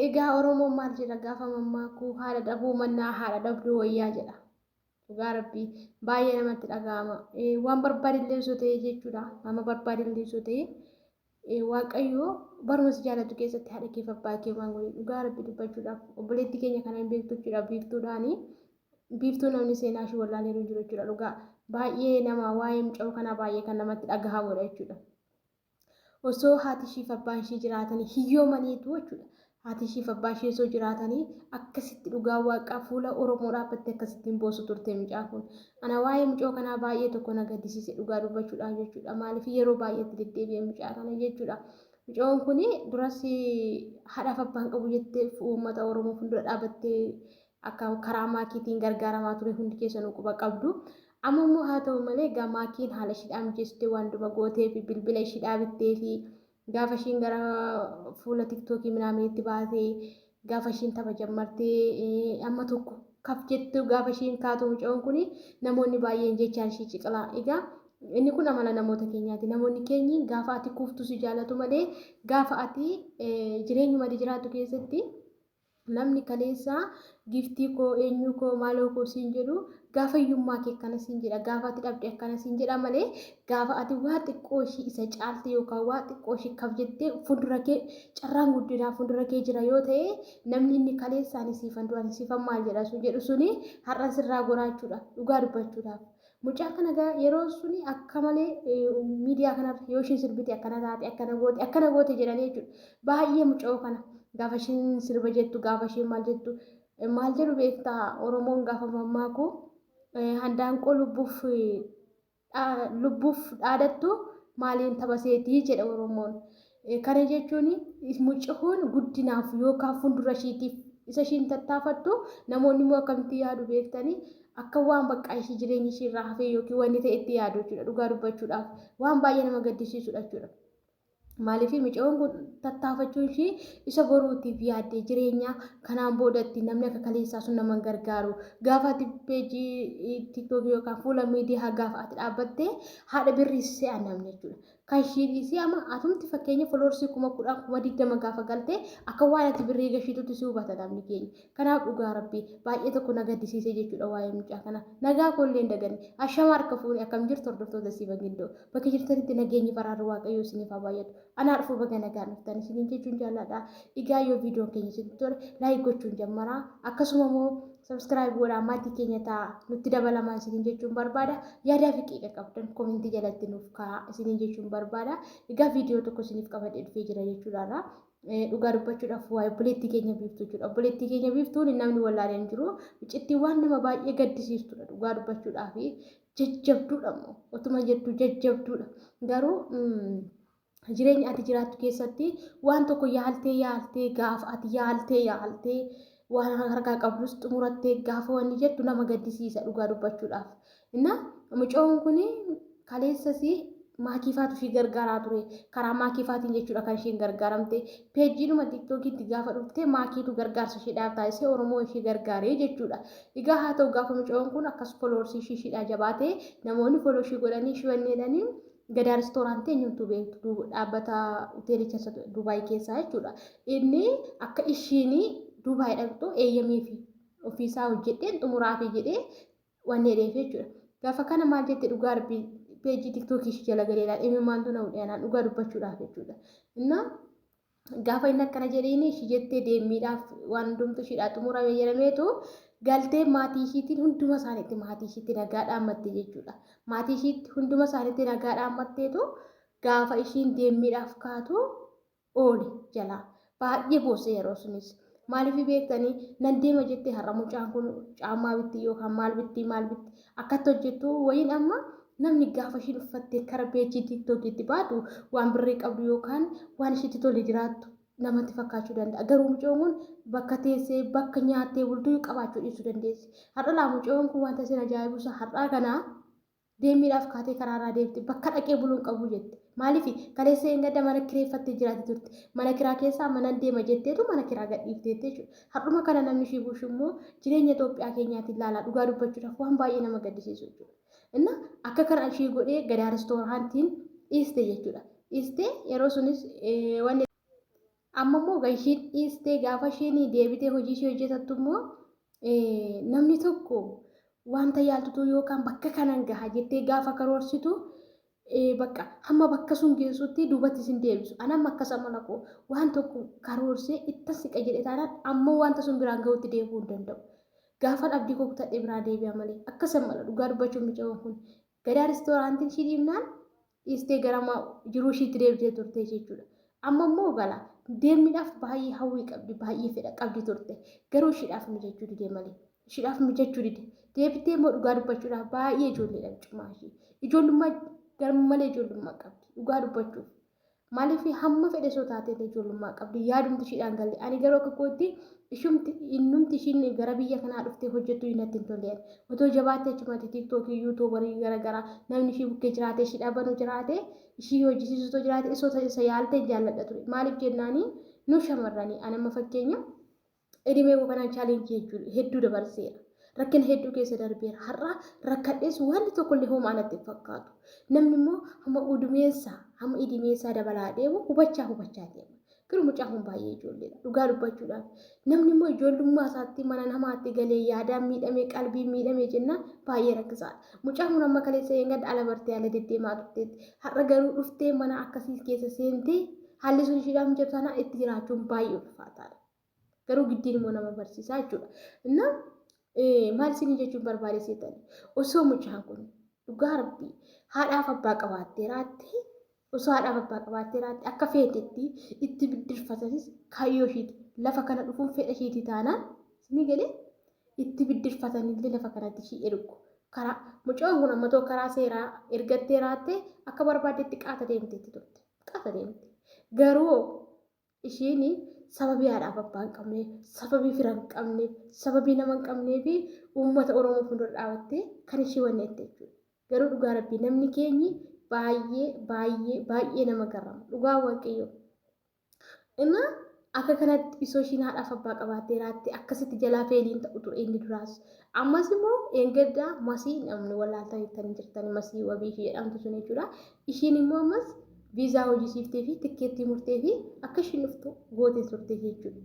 Egaa Oromoon maal jedha gaafa mammaakuu haadha dhabuu mannaa haadha dhabduu wayyaa jedha. Dhugaa rabbii baay'ee namatti dhaga'ama. Waan barbaadillee osoo ta'ee jechuudha. Nama barbaadillee osoo ta'ee waaqayyo baruma si jaallatu keessatti haadha keef abbaa kee waan godhe dhugaa rabbi dubbachuudhaaf obboleettii keenya kana hin beektu jechuudha biiftuudhaani. Biiftuu namni seenaa ishee wallaalee jiru jechuudha dhugaa. Baay'ee nama waa'ee muca'uu kanaa baay'ee kan namatti dhagahamudha jechuudha. Osoo haati ishiif abbaan ishii jiraatanii hiyyoomaniitu jechuudha. Haati ishiif abbaa ishii osoo jiraatanii akkasitti dhugaa waaqaa fuula Oromoo dhaabbattee akkasitti hin boosu turte mucaa kun. Ana waa'ee mucoo kanaa baay'ee tokko na gaddisiise dhugaa dubbachuudhaaf jechuudha. Maaliif yeroo baay'eetti deddeebi'e mucaa kana jechuudha. Mucoon kun duras haadhaaf abbaan qabu jettee uummata Oromoo fuuldura dhaabattee akka karaa maakiitiin gargaaramaa ture hundi keessanuu quba qabdu. Amma immoo haa ta'u malee egaa maakiin haala ishiidhaa mijeessitee waan duma gootee fi bilbila ishiidhaa bittee fi gaafa ishiin gara fuula tiktookii minaaminitti baatee gaafa ishiin tapha jammartee amma tokko kaf jettu gaafa ishiin kaatu mucoon kun namoonni baay'een jechaan ishii ciqilaa. Egaa inni kun amala namoota keenyaati. Namoonni keenyi gaafa ati kuuftu si jaalatu malee gaafa ati jireenyuma ati jiraattu keessatti Namni kaleessa Giiftii koo, Eenyuu koo, Maaloo koo siin jedhu gaafa hiyyummaa kee akkana siin jedha, gaafa ati dhabde akkana siin jedha malee gaafa ati waa xiqqoo ishii isa caalte yookaan waa xiqqoo ishii kaf jettee fuuldura kee carraan guddinaa fuuldura kee jira yoo ta'e namni inni kaleessa ani siifan du'an siifan maal jedha sun jedhu suni har'a sirraa goraachuudha dhugaa dubbachuudhaaf. Mucaa kana gaa yeroo suni akka malee miidiyaa kanarra yoo ishiin sirbite akkana taate akkana goote akkana goote jedhanii jechuudha. Baay'ee muca'oo kana gaafa ishiin sirba jettu gaafa ishiin maal jettu maal jedhu beektaa Oromoon gaafa mammaaku handaanqoo lubbuuf lubbuuf dhaadattu maaliin taphaseetii jedha Oromoon. Kana jechuun mucahoon guddinaaf yookaan fuuldura ishiitiif isa ishiin tattaafattu namoonni immoo akkamitti yaadu beektanii akka waan bakka ishii jireenya ishii irraa hafee yookiin wanni ta'e itti yaadu jechuudha dhugaa dubbachuudhaaf waan baay'ee nama gaddisiisudha jechuudha. Maaliif mucahoon kun tattaafachuun ishii isa boruutiif yaaddee jireenya kanaan boodatti namni akka kaleessaa sun nama gargaaru gaafa ati peejii tiiktookii yookaan fuula miidiyaa gaafa ati dhaabbattee haadha birrii se'an namni jechuudha. Kan ishii dhiisii ama atumti fakkeenya foloorsii kuma kudhan kuma digdama gaafa galte akka waan ati birrii gashiitutti si hubata namni keenya. Kanaaf dhugaa rabbii baay'ee tokko na gaddisiisee jechuudha waa'ee mucaa kana. Nagaa koo illee hin daganne. Ashama harka fuune akkam jirtu hordoftoota Siba Gindoo. Bakka jirtanitti nageenyi faraarri waaqayyoo isiniif haa baay'atu. Anaa dhufuu baga nagaan dhuftan isiniin jechuun jaalladha. Egaa yoo viidiyoon keenya isinitti tole laayik gochuun jammaraa akkasuma immoo Subscribe godhaa maatii keenya ta'a nutti dabalamaa isiniin jechuun barbaada. Yaadaa fi qiiqa qabdan komentii jalatti nuuf ka'a isiniin jechuun barbaada. Egaa viidiyoo tokko isiniif qabadhee dhufee jira jechuudha irraa. Dhugaa dubbachuudhaaf waa'ee obboleettii keenya biiftuu jechuudha. Obboleettii keenya biiftuun namni wallaalee hin jiru. Iccitti waan nama baay'ee gaddisiistudha dhugaa dubbachuudhaaf jajjabduudha immoo otuma jettu jajjabduudha. Garuu jireenya ati jiraattu keessatti waan tokko yaaltee yaaltee gaaf ati yaaltee yaaltee waan harkaa qabdus xumurattee gaafa wanni jettu nama gaddisiisa dhugaa dubbachuudhaaf. Inna mucoon kun kaleessasi maakiifaatu ishii gargaaraa ture. Karaa maakiifaatiin jechuudha kan ishiin gargaaramte. Peejiidhuma tiktookiitti gaafa dhufte maakiitu gargaarsa ishiidhaaf taasisee Oromoo ishii gargaaree jechuudha. Egaa haa ta'u gaafa mucoon kun akkas foloorsii ishii ishiidhaa jabaatee namoonni foloo ishii godhanii ishii wanneedhanii Gadaa ristooraantii eenyutu beektu dhaabbata hoteelicha Dubaay keessaa jechuudha. Inni akka ishiin Dubaay dhaqxu eeyyamee fi ofiisaa hojjedheen xumuraa fi jedhee waan dheereef jechuudha. Gaafa kana maal jette dhugaa rabbii peejii tiktookii ishii jala galee laal imimmaantu na hudhee anaan dhugaa dubbachuudhaaf jechuudha. Innaa gaafa inni akkana jedhiin ishii jettee deemmiidhaaf waan hundumtu ishiidhaa xumurame jedhameetu galtee maatii ishiitiin hunduma isaaniitti maatii ishiitti nagaa dhaammatte jechuudha. Maatii ishiitti hunduma isaaniitti nagaa dhaammatteetu gaafa ishiin deemmiidhaaf kaatu oole jalaa baay'ee boosse yeroo sunis. Maaliif beektanii nan deema jettee har'a mucaan kun caammaa bitti yookaan maal bitti maal bitti akkatti hojjettu wayiin amma namni gaafa ishiin uffattee kara peejii tiiktookiitti baatu waan birrii qabdu yookaan waan ishiitti tole jiraattu namatti fakkaachuu danda'a. Garuu mucoon kun bakka teessee bakka nyaattee bultuu qabaachuu dhiisuu dandeessi. Har'a laa mucoon kun wanta isin ajaa'ibusa har'aa kana Deemmiidhaaf kaatee karaarraa deemte. Bakka dhaqee buluu hin qabu jette. Maaliif? Kaleessa dheengadda mana kireeffattee jiraatti turte. Mana kiraa keessaa manan deema jetteetu mana kiraa gadhiifte jette jechuudha. Har'uma kana namni ishii bushu immoo jireenya Itoophiyaa keenyaatiin ilaalaa dhugaa dubbachuudhaaf waan baay'ee nama gaddisiisu jechuudha. Inna akka kana ishii godhee gadaa ristooraantiin dhiiste jechuudha. Dhiiste yeroo sunis wanni Amma immoo kan ishiin dhiistee gaafa ishiin deebitee hojii ishee hojjetattu immoo namni tokko wanta yaaltutuu yookaan bakka kanan gaha jettee gaafa karoorsitu bakka hamma bakka sun geessutti duubatti isin deebisu. An amma akkas amala koo waan tokko karoorsee ittan siqa jedhe taanaan amma wanta sun biraan gahutti deebi'uu hin danda'u. Gaafan abdii koo kutadhee biraa deebi'a malee akkas amala dhugaa dubbachuun micaawwan kun gadaa restooraantiin ishii dhiibnaan dhiistee gara ma- jiruu ishiitti deebitee turte jechuudha. Amma immoo gala deemniidhaaf baay'ee hawwii qabdi, baay'ee fedha qabdi turte. Garuu ishiidhaaf mijachuu dide malee. Ishiidhaaf mijachuu dide. Deebitee immoo dhugaa dubbachuudhaaf baay'ee ijoolleedhaan cimaa ishii. Ijoollummaa garmalee ijoollummaa qabdi. Dhugaa dubbachuuf. Maaliif hamma fedhe soo taatee illee ijoollummaa qabdi. Yaadumti ishiidhaan galle. Ani garuu akka kootti Ishumti innumti ishiin gara biyya kanaa dhuftee hojjettu iyyuu natti hin tolle ani. Otoo jabaattee achumatti tiiktookii, yuutuubarii gara garaa namni ishii bukkee jiraatee ishii dhabanu jiraate ishii hojjisiisu otoo jiraate isa otoo isa yaalte hin jaalladha ture. Maaliif jennaani nu shamarrani ani amma fakkeenya edimee koo kanaan chaalenjii hedduu hedduu dabarseera. Rakkina hedduu keessa darbeera. Har'a rakkadhees wanni tokkollee homaa natti hin fakkaatu. Namni immoo hamma udumeessaa hamma idimeessaa dabalaa deemu hubachaa hubachaa deema. Garuu mucaan kun baay'ee ijoolleedha. Dhugaa dubbachuudhaaf. Namni immoo ijoollummaa isaatti mana namaatti galee yaadaan miidhamee qalbiin miidhamee jennaan baay'ee rakkisaadha. Mucaan kun amma kaleessa eeggadha ala bartee ala deddeemaa turteetti. Har'a garuu dhuftee mana akkasii keessa seentee haalli sun ishiidhaaf mijatu taanaan itti jiraachuun baay'ee ulfaataadha. Garuu giddiin immoo nama barsiisaa jechuudha. Inna maal isinii jechuun barbaade seetan osoo mucaan kun dhugaa rabbii haadhaaf abbaa qabaatteeraattee Osoo haadhaaf abbaa qabaattee irraatti akka feetetti itti biddirfatatis kaayyoo ishiiti. Lafa kana dhufuun fedha ishiiti taanaan isinii galee itti biddirfatanillee lafa kanatti ishii ergu. Karaa mucaan kun amma too karaa seeraa ergattee raattee akka barbaaddetti qaata deemteetti turte. Qaata deemte. Garuu Ishiin sababii haadhaaf abbaa hin qabne, sababii fira hin qabne, sababii nama hin qabnee fi uummata Oromoo fuuldura dhaabattee kan ishii wanni jette jechuudha. Garuu dhugaa rabbii namni keenyi baay'ee baay'ee baay'ee nama garrama. Dhugaa waaqayyoo. Inna akka kanatti isoo ishiin haadhaaf abbaa qabaattee raatte akkasitti jalaa feeliin ta'u ture inni duraas. Ammas immoo eeggaddaa masii namni wallaaltanii jirtanii masii wabii fi jedhamtu sun jechuudha. Ishiin immoo ammas viizaa hojjisiiftee fi tikkeettii murtee fi akka ishiin dhuftu gootee turte jechuudha.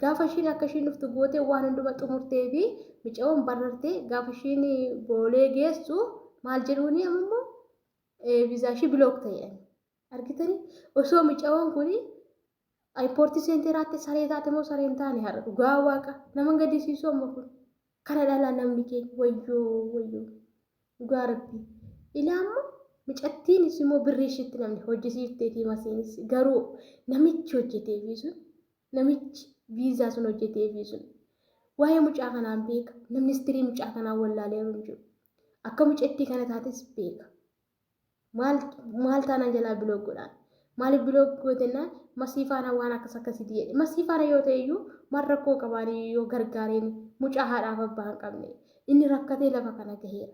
Gaafa ishiin akka ishiin dhuftu gootee waan hunduma xumurtee fi micawoon barartee gaafa ishiin boolee geessu maal jedhuuni amma immoo viizaa ishii bilook ta'e. Argitanii osoo micawoon kun Ayipoortii seentee raatte saree taate moo sareen taane har'a dhugaa waaqa nama gadisiisu amma kun kana dhalaa namni keenya wayyoo wayyoo dhugaa rabbii ilaa amma micattiinis immoo birrii ishiitti namni hojjisiifteetii masiinis garuu namichi hojjeteefii sun namichi viizaa sun hojjeteefii sun waa'ee mucaa kanaan beeka namni istirii mucaa kanaan wallaalee hin jiru akka mucattii kana taates beeka maal taanaan jalaa biloog godhaan maaliif biloog gootennaan masii faana waan akkas akkasiiti jedhe masii faana yoo ta'e iyyuu maal rakkoo qabaanii yoo gargaareen mucaa haadhaaf abbaa hin qabne inni rakkatee lafa kana gaheera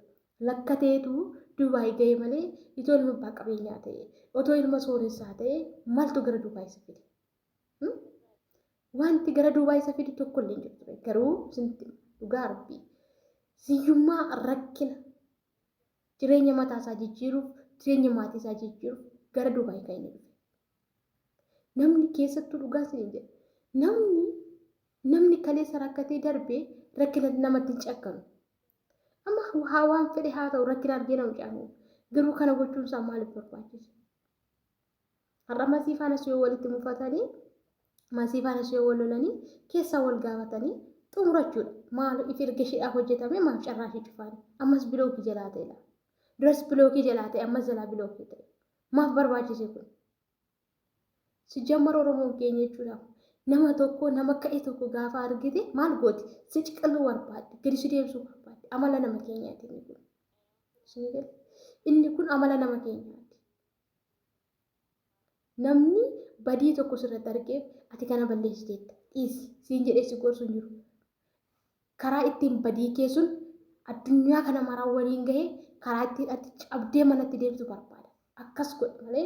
lakkateetu duubaay ga'e malee itoo ilma abbaa qabeenyaa ta'e otoo ilma sooressaa ta'e maaltu gara duubaay isa fide wanti gara duubaay isa fide tokko illee hin jiru garuu dhugaa rabbii siyyummaa rakkina jireenya mataa isaa jijjiiruuf jireenya maatii isaa jijjiiruuf gara Dubaay kan inni dhufe. Namni keessattuu dhugaa isin jedha. Namni namni kaleessa rakkatee darbee rakkina namatti hin cakkanu. Amma haa waan fedhe haa ta'u rakkina argee nama caamu. Garuu kana gochuun isaa maaliif barbaachise? Har'a masii faanas yoo walitti mufatanii masii faanas yoo wal lolanii keessaa wal gaafatanii xumurachuudha. Maal if erga isheedhaa hojjetame maaf carraa ishee cufaani? Ammas bilookii jalaa ta'edha. Duras bilookii jalaa ta'e ammas jalaa bilookii ta'e. Maaf barbaachise kun? Sijjammar Oromoon keenya jechuudha. Nama tokko nama ka'e tokko gaafa argite maal gooti? Si ciqiluu barbaadde, gadi si deebisuu barbaadde. Amala nama keenyaati inni kun. Inni kun amala nama keenyaati. Namni badii tokko sirratti argee ati kana balleessiteetta dhiisi siin jedhee si gorsu hin jiru. Karaa ittiin badii kee sun addunyaa kana maraa waliin gahee karaa ittiin ati cabdee manatti deemtu barbaada. Akkas godhi malee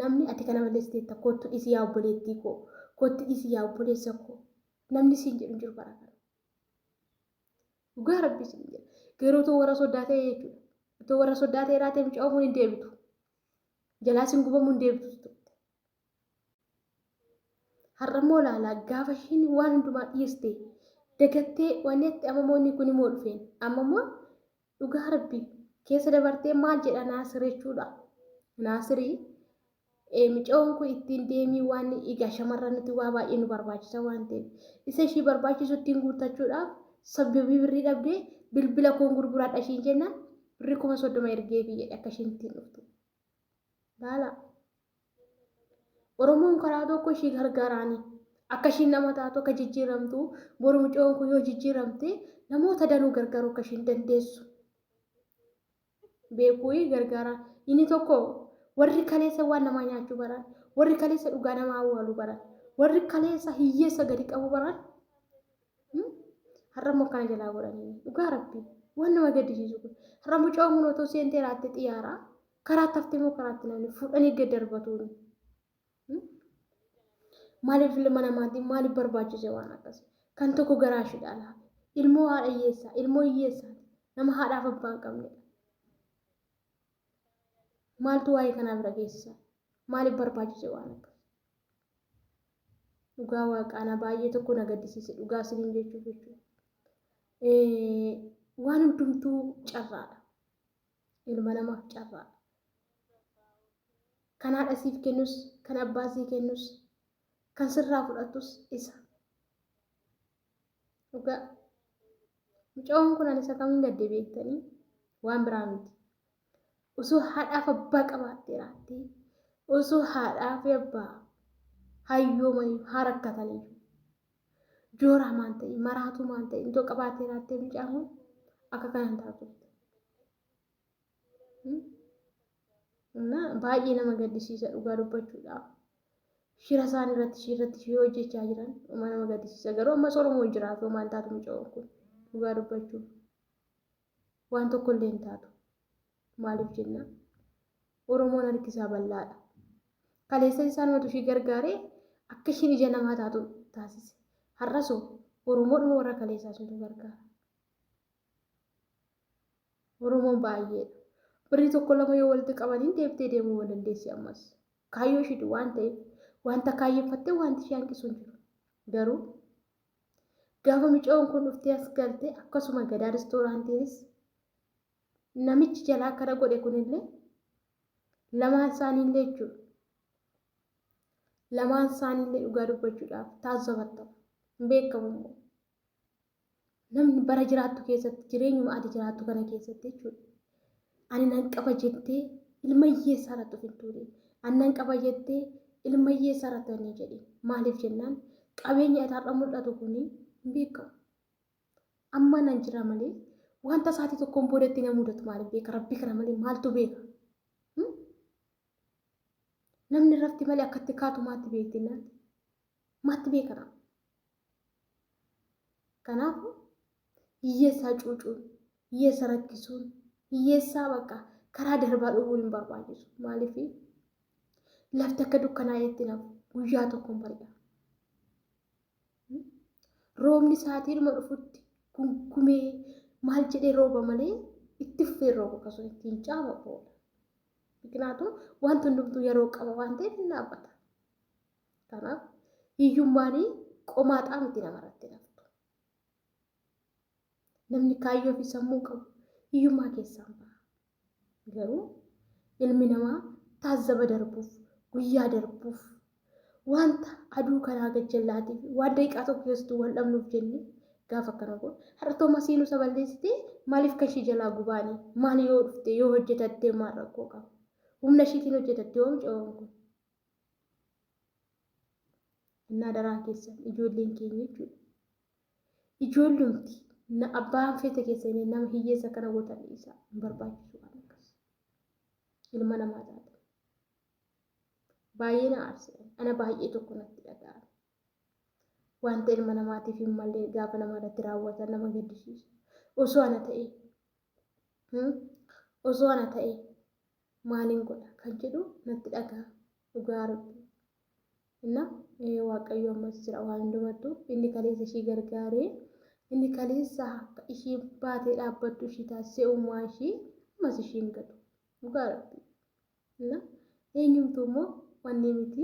namni ati kana balleessiteetta kottu dhiisi yaa obboleettii koo kottu dhiisi yaa obboleessa koo namni siin jedhu hin jiru bara kana. Dhugaa rabbii sin jedha. Garuu utuu warra soddaa ta'e jechuudha. Utuu warra soddaa ta'e laatee mucaa ofuun hin deebitu. Jalaa sin gubamuu hin deebitu turte. Har'a immoo laalaa gaafa ishiin waan hundumaa dhiiste dagattee waan itti amma immoo inni kun immoo dhufeen amma immoo dhugaa rabbii keessa dabartee maal jedha naasir jechuudha. Naasirii Micayoon kun ittiin deemii waan egaa shamarranitti waa baay'ee nu barbaachisa waan ta'eef isa ishii barbaachisu ittiin guuttachuudhaaf sabdobii birrii dhabdee bilbila koon gurguraadha ishiin jennaan birrii kuma soddoma ergeefii jedhe akka ishiin ittiin dhuftu. Laala. Oromoon karaa tokko ishii gargaaraanii akka ishiin nama taatu akka jijjiiramtu boru micayoon kun yoo jijjiiramte namoota danuu gargaaruu akka ishiin dandeessu. beekuuyi gargaara. Inni tokko warri kaleessa waan namaa nyaachuu baran, warri kaleessa dhugaa namaa awwaaluu baran, warri kaleessa hiyyeessa gadi qabu baran har'a immoo akkana jalaa godhanii dhugaa rabbi waan nama gaddisiisu kun har'a mucaa umuun otoo seentee raatte xiyaaraa karaatti haftee immoo karaatti namni fuudhanii gad darbatuun Maaliif ilma namaatiin maaliif barbaachise waan akkasii? Kan tokko garaa ishiidhaa laafe. Ilmoo haadha hiyyeessaa, ilmoo hiyyeessaati. Nama haadhaaf abbaa hin qabnedha. Maaltu waa'ee kanaa bira geessisa? Maaliif barbaachise waan akkasii? Dhugaa waaqaana baay'ee tokko na gaddisiise dhugaa isiniin jechuuf jechuudha. Waan hundumtuu carraadha. ilma namaaf carraa kan haadha siif kennus kan abbaa sii kennus kan sirraa fudhatus isa dhugaa mucawwan kun ani isa kamiin gadde beektanii waan biraa miti osoo haadhaaf abbaa qabaattee raattee osoo haadhaaf abbaa hayyoomanii haa rakkatanii Jooraa maan ta'e, maraatuu maan ta'e, intoo qabaatee raattee mucaan kun akka kanaan ta'a turte. Na baay'ee nama gaddisiisa dhugaa dubbachuudhaaf. Shira isaan irratti ishii irratti ishii hojjechaa jiran dhuma nama gaddisiisa. Garuu ammas Oromoo jiraatu homaan taatu mucaan kun dhugaa dubbachuuf. Waan tokko illee hin taatu. Maaliif jennaan Oromoon harki isaa bal'aadha. Kaleessas isaanumatu ishii gargaaree akka ishiin ija namaa taatu taasise. Har'as hoo Oromoodhuma warra kaleessaa suntu gargaara. Oromoon baay'eedha. Birrii tokko lama yoo walitti qabaniin deebitee deemuu hin dandeessi ammas. Kaayyoo ishiitu waan ta'eef wanta kaayyeffattee wanti ishee hanqisu hin jiru. Garuu Gaafa micoon kun dhuftee as galte akkasuma gadaa ristooraantiinis namichi jalaa akkana godhe kunillee lamaan isaaniillee jechuudha. Lamaan isaaniillee dhugaa dubbachuudhaaf taasifatta. Hin beekamu immoo. Namni bara jiraattu keessatti jireenyuma ati jiraattu kana keessatti jechuudha. ani nan qaba jettee ilma hiyyeessaa irratti of hin tuule ani nan qaba jettee ilma hiyyeessaa irratti hin jedhi maaliif jennaan qabeenya isaarra mul'atu kun hin beekamu amma nan jira malee wanta isaatii tokkoon boodatti na mudatu maaliif beeka rabbi kana malee maaltu beeka Hmm? namni rafti malee akkatti kaatu maatti beekti naati maatti beekana Kanaafuu hiyyeessaa cuucuun, hiyyeessa rakkisuun, hiyyeessaa bakka karaa darbaa dhowwuu hin barbaachisu. Maaliif lafti akka dukkanaa'eetti naaf guyyaa tokkoon bari'a. Roobni saatiidhuma dhufutti gungumee maal jedhee rooba malee itti fufee rooba kasuun ittiin caama oola. Biqilaatuu wanti hundumtuu yeroo qaba waan ta'eef hin dhaabbata. Kanaaf hiyyummaan qomaaxaa miti namarratti naftu. Namni kaayyoo fi sammuu qabu hiyyummaa keessaan ba'a. Garuu ilmi namaa taazzaba darbuuf, guyyaa darbuuf, wanta aduu kanaa gajjallaatii fi waan daqiiqaa tokko keessattuu wal dhabnuuf jennee gaafa akkana godhu. Har'a Toomas Hiinuusa balleessitee maaliif kan ishii jalaa gubaanii? Maal yoo dhufte yoo hojjetattee maal rakkoo qaba? Humna ishiitiin hojjetattee oomishawwan kun. Innaa daraa keessan ijoolleen keenya jechuudha. Ijoollumti na abbaan feete keessanii nama hiyyeessa akkana gootan dhiisaa hin barbaachisu waan akkas. Ilma namaa taate. Baay'ee na aarse. Ana baay'ee tokko natti dhaga'ame. Wanta ilma namaatiif hin malle gaafa nama irratti raawwatan nama gaddisiisa. Osoo ana ta'e Hmm? Osoo ana ta'e maaliin godha kan jedhu natti dhagaa dhugaa rabbii. Inna eh, waaqayyo ammas jira waan hundumattu inni kaleessa ishii gargaaree inni kaleessa akka ishiin baatee dhaabbattu ishii taasisee uumaa ishii ammas ishiin gadu dhugaa rabbii. Inna eenyumtuu immoo wanni miti.